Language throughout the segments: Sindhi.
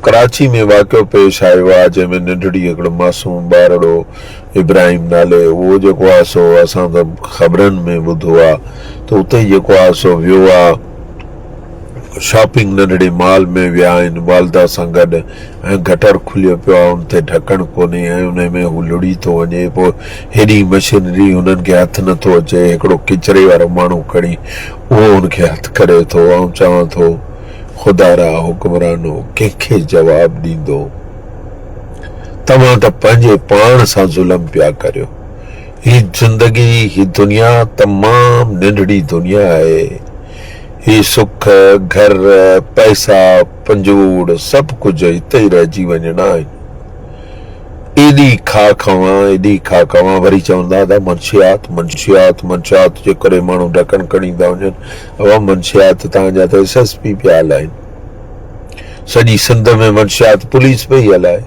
ڪراچي ۾ واقعو پيش آيو آهي جنهن ۾ ننڍڙي هڪڙو معصوم ٻارڙو ابراهيم نالي اهو جيڪو آهي سو اسان ته خبرن ۾ ٻڌو آهي ته اتي جيڪو آهي سو ويو آهي شاپنگ ننڍڙي مال ۾ ويا آهن والده سان گڏ ۽ گٽر کليو پيو آهي ان تي ڍڪڻ ڪونهي ۽ انهي ۾ هو لڙهي ٿو وڃي پوء هيڏي مشينري هنن کي هٿ نٿو اچي هڪڙو ڪچري وارو ماڻهو کڻي اهو ان کي هٿ ڪري ٿو آئون چوان ٿو خدا را حڪمرانو ڪنهن کي جواب ڏيندو؟ توهان ته پنهنجي پاڻ سان ظلم پيا ڪريو. هي زندگي، هي دنيا تمام ننڍڙي دنيا آهي. هي سک، گهر، پئسا، پنجوڙ سڀ ڪجهه هتي ئي رهجي وڃڻا آهن. ايڏي کاء کاوان، ايڏي کاء کاوان وري چوندا ته منشيات، منشيات، منشيات جي ڪري ماڻهو ڍڪڻ کڻي ٿا وڃن. اهو منشيات تان جا ته ايس ايس پي پيا هلائين سڄي سنڌ ۾ منشيات پوليس پئي هلائي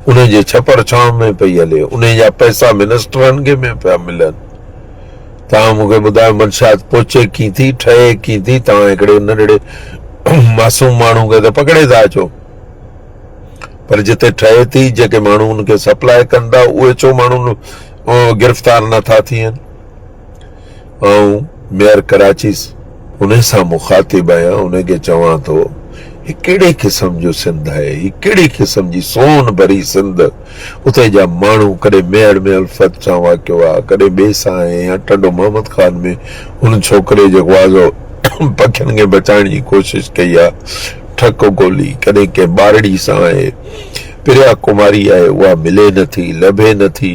انهي جي ڇپر ڇانو ۾ پئي هلي انهي جا پئسا منسٽرن کي ۾ پيا ملن تان مون کي ٻڌايو منشيات پهچي ڪين ٿي ٺهي ڪين ٿي تان هڪڙي ننڍڙي معصوم ماڻهو کي ته پڪڙي ٿا اچو پر جتي ٺهي ٿي جيڪي ماڻهو ان کي سپلاء ڪن ٿا اهي ڇو ماڻهو گرفتار نٿا ٿين آئون ميئر ڪراچي انهي سان مخاطب آهيان انهي کي چوان ٿو هي ڪهڙي قسم جو سنڌ آهي هي ڪهڙي قسم جي سونهن ڀري سنڌ اتي جا ماڻهو ڪڏهن ميئڙ ۾ الفت سان واقعو آ ڪڏهن ٻي سان آهي يا ٽنڊو محمد خان ۾ هن ڇوڪري جيڪو آزو پکين کي بچائڻ جي ڪوشش ڪئي آ ٺڪ ڳولي ڪڏهن ڪنهن ٻارڙي سان آهي پريا ڪماري آهي اها ملي نٿي لڀي نٿي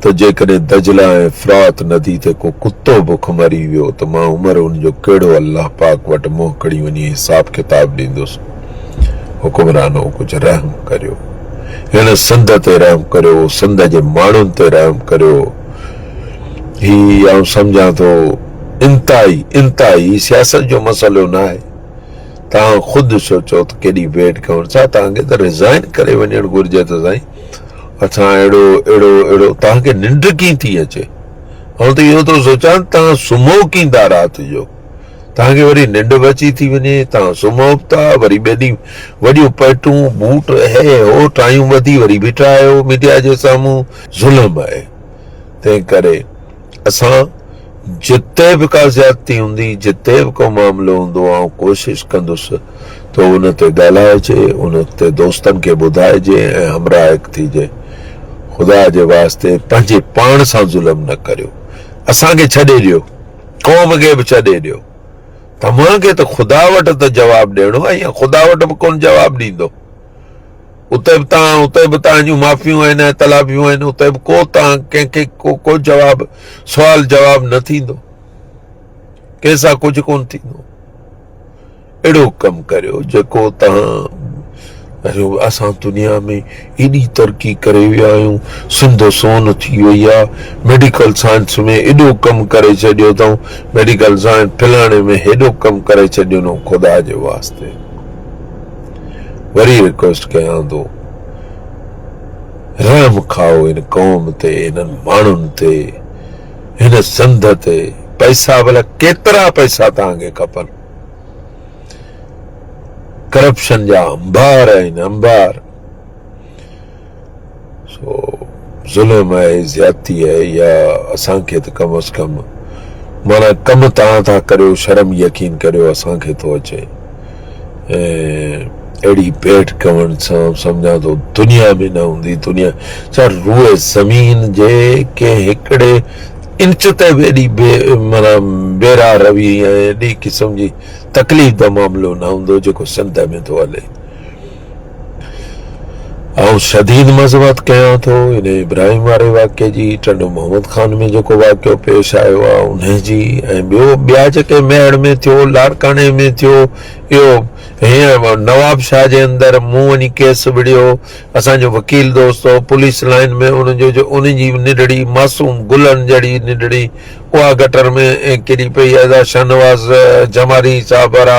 ته جيڪڏهن دجله ۽ فرات ندي تي ڪو ڪتو بک مري ويو ته مان عمر ان جو ڪهڙو الله پاڪ وٽ منهن کڻي وڃي حساب ڪتاب ڏيندس؟ حڪمرانو ڪجهه رحم ڪريو. هن سنڌ تي رحم ڪريو، سنڌ جي ماڻهن تي رحم ڪريو. هي آئون سمجهان ٿو انتهائي انتهائي سياست جو مسئلو ناهي. توهان خود ڏسو چئو ته ڪيڏي ويٽ ڪيون ڇا توهان کي ته رزائن ڪري وڃڻ گهرجي ته سائين. اسان اهڙو اهڙو اهڙو توهان کي ننڊ ڪيئن ٿي اچي آئون ته اهو ٿو سوچان توهان سمهو ڪيئن ٿا رات جو توهان کي وري ننڊ به اچي ٿي وڃي توهان سمهو به ٿا وري ٻئي ڏينهن وڏيون پيٽون بوٽ هي هو ٽايون ٻڌي وري بيٺا آهيو ميڊيا جي سامهون ظلم آهي تنهن ڪري اسان جتي به ڪا زيادتي هوندي، جتي به ڪو معاملو هوندو، آئون ڪوشش ڪندس ته ان تي ڳالهائجي، ان تي دوستن کي ٻڌائجي ۽ همراهڪ ٿيجي. خدا جي واسطي پنهنجي پاڻ سان ظلم نه ڪريو. اسان کي ڇڏي ڏيو. قوم کي به ڇڏي ڏيو. توهان کي ته خدا وٽ ته جواب ڏيڻو آهي ۽ خدا وٽ به ڪونه جواب ڏيندو. اتي به تان، اتي به تان جون معافيون آهن ۽ تلافيون آهن، اتي به ڪو تان، ڪنهن کي ڪو ڪو جواب، سوال جواب نه ٿيندو. ڪنهن سان ڪجهه ڪونه ٿيندو. اهڙو ڪم ڪريو جيڪو تان اريو اسان دنيا ۾ ايڏي ترقي ڪري ويا آهيون سنڌ سون ٿي وئي آ ميڊيڪل سائنس ۾ ايڏو ڪم ڪري ڇڏيو اٿئون ميڊيڪل سائنس فلاڻي ۾ هيڏو ڪم ڪري ڇڏيو نو خدا جي واسطي وري ريڪويسٽ ڪيان ٿو رحم کائو ان قوم تي انهن ماڻهن تي هن سنڌ تي پئسا بلا ڪيترا پئسا تان کي کپن ڪرپشن جا انبار آهن انبار سو ظلم آهي زيادتي آهي يا اسان کي ته ڪم از ڪم مانا ڪم تان ٿا ڪريو شرم يقين ڪريو اسان کي ٿو اچي اهڙي بيٺ ڪمن سان سمجھان ٿو دنيا ۾ نه هوندي دنيا ڇا روئ زمين جي ڪنهن هڪڙي انچ تي به ايڏي بي مانا بيرا روي ۽ ايڏي قسم جي تڪليف جو معاملو نه هوندو جيڪو سنڌ ۾ ٿو هلي آئون شديد مذمت ڪيان ٿو ان ابراهيم واري واقعي جي ٽنڊو محمد خان ۾ جيڪو واقعو پيش آيو آ ان جي ۽ ٻيو ٻيا جيڪي ميهڙ ۾ ٿيو لاڙڪاڻي ۾ ٿيو اهو هيئن نواب شاهه جي اندر مون وڃي ڪيس وڙهيو اسان جو وڪيل دوست هو پوليس لائن ۾ ان جو جو ان جي نڊڙي معصوم گلن جهڙي نڊڙي اها گٽر ۾ ڪري پئي ادا شاهنواز جماري صاحب وارا